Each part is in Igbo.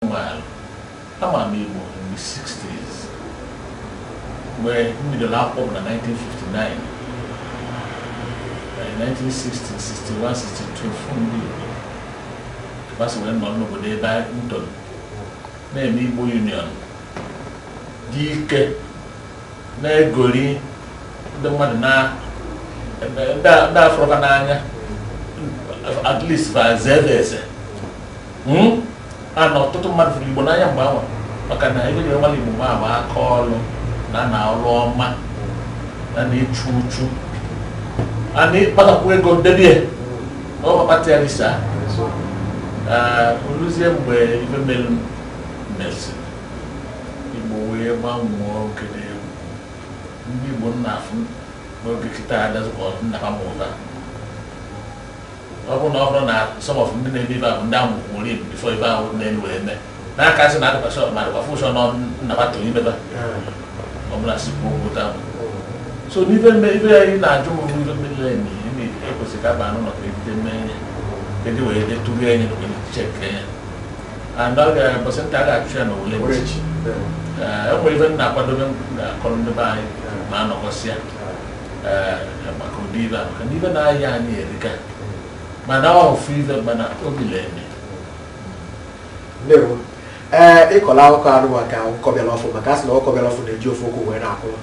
Meanwhile, ama m Igbo in the 60s mgbe m bidoro akwụkwọ m na 1959 By 1960, 61, 62 fụ ndị Igbo gbasa wee nọ n'obodo ebe anyị ntoro na-eme Igbo Union dị ike na-egori ndị mmadụ na ndị afụrọ fa n'anya at least fa zee eze hmm? a na ọtụtụ mmadụ fụrụ igbo n'anya mgbe ahụ maka na ife e ji mara igbo bụ aka ọrụ na na ọrụ ọma na na-echu uchu a na-akpatakwu ego debe na ọ kpakpata ya risa oluzie mgbe ife melu mesi igbo wee gbanwee oge n'egwu ndị igbo m na-afụ n'oge kịta adịzị ka ọ nna ha mụ fa ọ bụrụ na ọ bụrụ na some of ndị na-eme ife ahụ ndị ahụ nwụrụ ibu before ife ahụ na-elu wee mee n'aka sị na adịkwa sure ma adịkwa fa sure na ọ nna fa tụrụ ime fa ọ bụla si kwuo okwu taa so n'ife mme ife anyị na-ajụ m bụ ife mmiri anyị na ime ekwesịrị ka aba anụ nọ ka ebite mme enye kedu wee dị tụrụ enye na onye chek enye and ọ ka ụbọsị nta a ga-achụ ya na owere nchi. Ee. Ee, e nwere ife m na-akwadobe m ga-akọrọ ndị be anyị ma a nọkọsịa maka ụdị ife a maka n'ife na-ahịa anyị erika mana ofu ife mana obi na-eme ndewo ee ịkọla akụkọ anụ maka ọkụkọ bịara ọfụ maka a sị na ọkụkọ bịara ọfụ na-eji ofu ụkwụ wee na-akwụrụ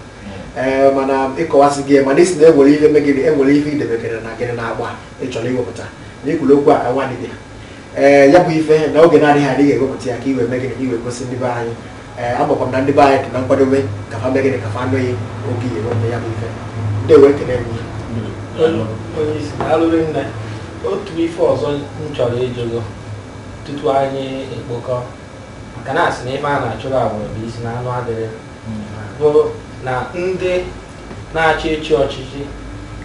ee mana ịkọwasị gị mana ị sị na e nwere ihe megịnị e nwere ihe i debekere na gịnị n'akpa ị chọrọ iwepụta na i kwuru okwu a ka nwa dibịa ee ya bụ ife na oge na-adịghị adịghị ewepụta ya ka e wee megịnị e wee gosi ndị be anyị ee eh, amakwa m na ndị be anyị dị na nkwadobe ka fa megịnị ka fa nụ ya oge e wepụta ya bụ ife ndewo ekene m onye isi daalụ rinne otu ife ọzọ m chọrọ ịjụ gị tutu anyị ekpokọ maka na a sị na ife a na-achụrụ agbụrụ bụ isi na anụ adịrị bụ na ndị na-achọ ịchị ọchịchị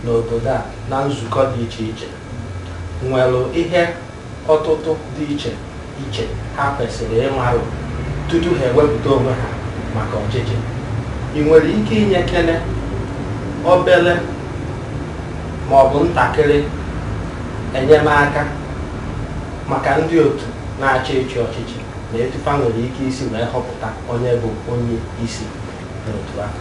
n'obodo a na nzukọ dị iche iche nwere ihe ọtụtụ dị iche iche ha kwesịrị ịmarụ tutu ha ewepụta onwe ha maka ọchịchị ị nwere ike inyekene obere ma ọ bụ ntakịrị enyemaka maka ndị otu na-achọ ịchị ọchịchị na etu fa nwere ike isi wee họpụta onye bụ onye isi n'otu ahụ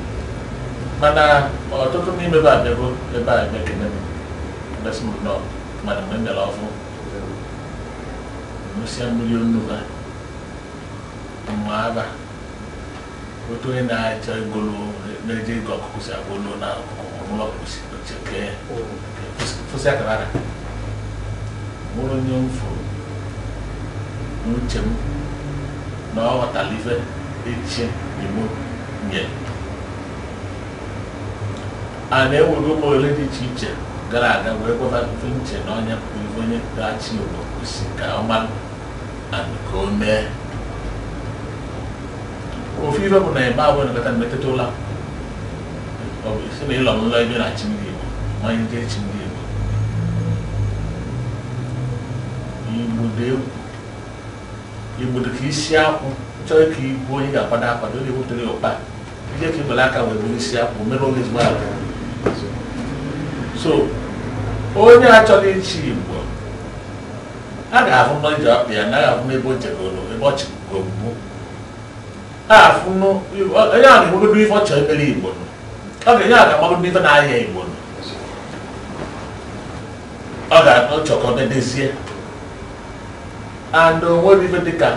mana ọtụtụ n'ime fa abịago ebe a emekene m ebesi m nnọọ mana mgbe m bịara ọfụ ṅụsịa mmiri onu ha mma aba otu onye na-achọ igolo na-eje igo ọkụkụ si agwa olu na ọkụkụ ọmụlọ ọkụkụ si chekee fụsị akara aka nwere onye m fụrụ n'uche m na ọ ghọtara ife ịchị igbo nye a na-ewego ụmụ ole dị iche iche gara aga wee gwaba ife m che na onye pụrụ ife onye ga-achị igbo kwesi ka ọ mara and ka o mee ofu ife bụ na ebe abụọ na-ekpeta mmetụta ụlọ igbo dị ka isi akwụ chọrọ ka i gbuo onye ga-akwado akwado onye wepụtara ya ụkpa ije ka ibele aka wee bụrụ isi akwụ mere onye ezigbo aka so onye chọrọ ịchị igbo a ga-ahụ n'ije ọkpa ya na a ga-ahụ n'ebe o jegoro ebe ọ chịgoro mbụ na-afụ na onye a na-enwegodo ife ọ chọrọ imere igbo na onye a ga-amagodo ife na-ahịa igbo na ọ ga-achọ ka ọ dedezie and o nwere ife dịka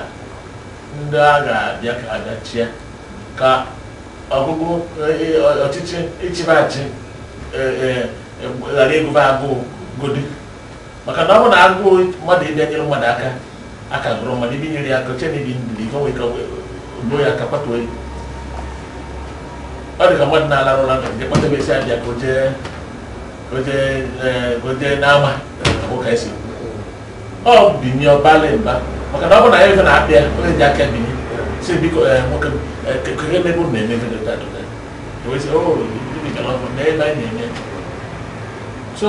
ndị a ga-abịa ka abịachie ka ọgụgụ ọchịchị ịchịba achị ghara ịgụba agụụ godi maka na ọ bụ na agụụ mmadụ ịbịa nyere mmadụ aka aka gụrụ mmadụ ịbịa nyere ya aka oche na ibi ndidi ife nwere ike gbuo ya aka kwatuo ya ọ dị ka mmadụ na-alarụ ụra e kpọtebe sị ya bịa ka o je o je o je n'ama ụka a sị ọ binie ọbalị mba maka na ọ bụ na ya ife na-abịa onye ji aka binie sị biko nwoke kekere emebe na-emebe dota dota so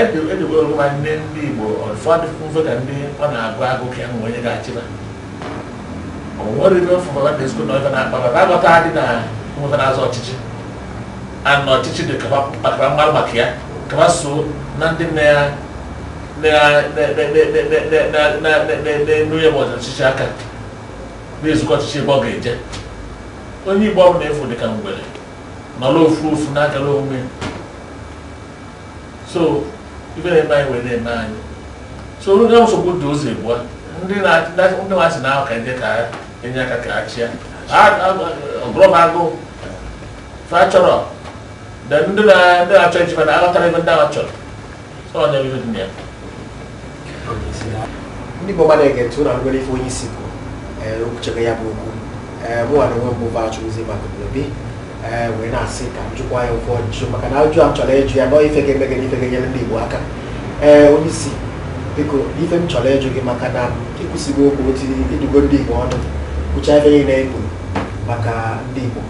edewere ụwa ndị ndị Igbo ụfọdụ mfe ka ndị ọ na-agụ agụụ ka e nwee onye ga-achịba o nwere ibe fụfọba na ezigbo na ọ ga na-akpa baba aghọta dị na nweta na-azọ ọchịchị ana ọchịchị dị kaba mmadụ maka ya kaba so na ndị nne ya na-enu ya ma ọchịchị aka na-ezukọ ọchịchị ebe ọ ga-eje onye igbo ọbụla efu dịka mgbere nọrọ ofu ofu na-agara onwe so ibe na-eme anyị wee na-eme anyị so ndị nsogbu dị ụzọ egbua ndị na-asị na ahụ ka ndị ka e nye aka ka a chịa ọgụrọm agụụ fa chọrọ ndị na-achọ ichekwa na aghọtara ebe ndị ahụ chọrọ ndị Igbo na-ege ntị ụnụ anụgo ife onye isi bụ eh, okwuchebe ya bụ okwu eh, mụnwa na onwe m bụ achụzi maka obi eh, wee na-asị ka m jụkwa ya ụfọdụ ajụjụ maka na ajụjụ a m chọrọ ịjụ ya na ọ ife ga-eme gịnị ife ga-enyere ndị Igbo aka ee onye isi biko ife m chọrọ ịjụ gị maka na i kwusigo okwu otu ị dụgo ndị Igbo ọdụ kwucha ife niile e kwuru maka ndị Igbo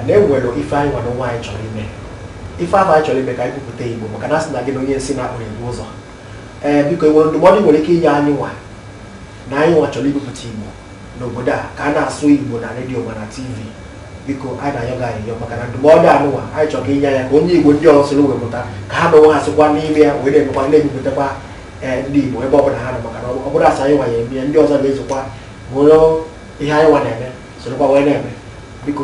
na e nwere ife anyị nwa na onwe anyị chọrọ ime ife afụ anyị chọrọ ime ka anyị kwupụta igbo maka na asị na gị na onye isi na-akpụrụ igbo ụzọ ee biko enwere ndụmọdụ i nwere ike inye anyị nwa na anyị nwa chọrọ ibupụta igbo n'obodo a ka a na-asụ igbo na redio ma na tv biko anyị na-ayọ gị ayịyọ maka na ndụmọdụ anụnwa anyị chọrọ ka i nye ya ka onye igbo ndị ọzọ soro wee mụta ka ha na onwe ha sikwa n'ime ya wee na-emekwa na-ebupụtakwa ee ndị igbo ebe ọbụla ha nọ maka na ọ bụrọ sọ anyị nwa ya eme ya ndị ọzọ ga-esokwa ma onye ihe anyị nwa na-eme sorokwa wee na-eme biko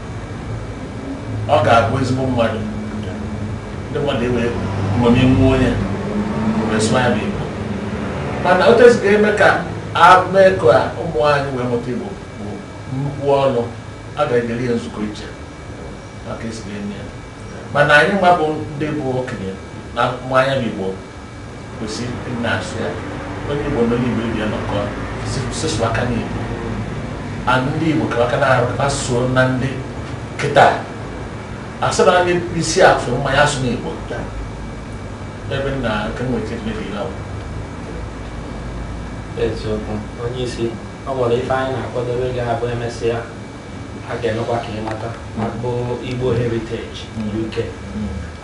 ọ ga-abụ ezigbo mmadụ ndị mmadụ ewee mmemme nwa onye wee sụọ ya bụ igbo mana otu esi ga-eme ka e mee ka ụmụ anyị wee mụta igbo bụ nnukwu ọlụ a ga-ejere ya nzukọ iche maka esi ga-eme ya mana anyị nwa bụ ndị bụ okenye na ma ya bụ igbo kwesị na-asụ ya onye Igbo na onye Igbo ibe ya nọkọ sụsụ aka n'Igbo a ndị Igbo kara aka na-asụo na ndị kịta asị na anyị isi afọ mmanya asụ n'Igbo ebe nna nke nwere ike imebi ihe ahụ eziokwu onye isi ọ nwere ife anyị na-akwadebe ga-abụ emesịa a ga-emekwa ka ịmata maka Igbo Heritage UK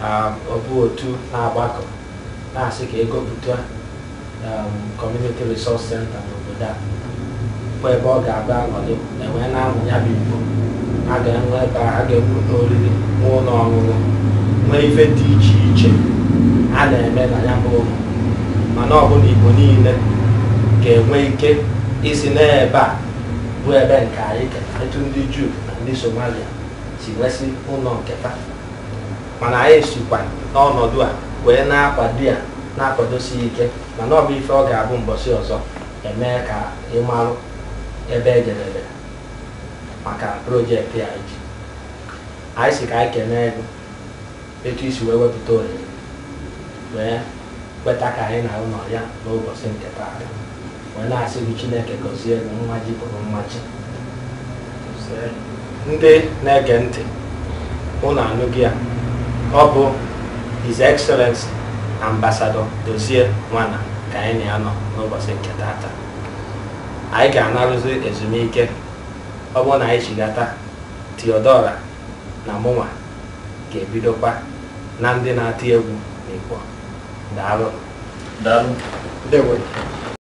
um, ọ bụ otu na-agbakọ na-asị ka e gopụta um, Community Resource Center n'obodo a bụ ebe ọ ga-abụ anọdụ ewee na-amụ ya bụ Igbo a ga-enwe ebe a ga-ewu ụnọ oriri na ụlọ ọṅụṅụ nwee ife dị iche iche a na-eme na ya bụ ụlọ mana ọ bụ na Igbo niile ga-enwe ike ịsị na ebe a bụ ebe nke anyị ka etu ndị juu na ndị somalia si nwesị ụlọ nke fa mana anyị sikwa n'ọnọdụ a wee na-akwado ya na-akwadosi ya ike mana ọ bụ ife ọ ga-abụ mbọsị ọzọ emee ka ị marụ ebe ejedebe maka projekti a iji anyị sị ka anyị kenee gị etu i si wee wepụta ohere wee kweta ka anyị na gị nọ ya n'ụbọchị nke taa wee na-asị gị chineke gọzie gị nwa ji bụrụ nwa chi ndị na-ege ntị ụnụ anụgo ya ọ bụ his excellency ambassador dozie nwanna ka anyị na ya nọ n'ụbọchị nke tata anyị ga-anarụzi ezumike ọ bụrụ na anyị chigata theodora na mụnwa ga-ebidokwa na ndị na-eti egwu n'Igbo daalụ ndewo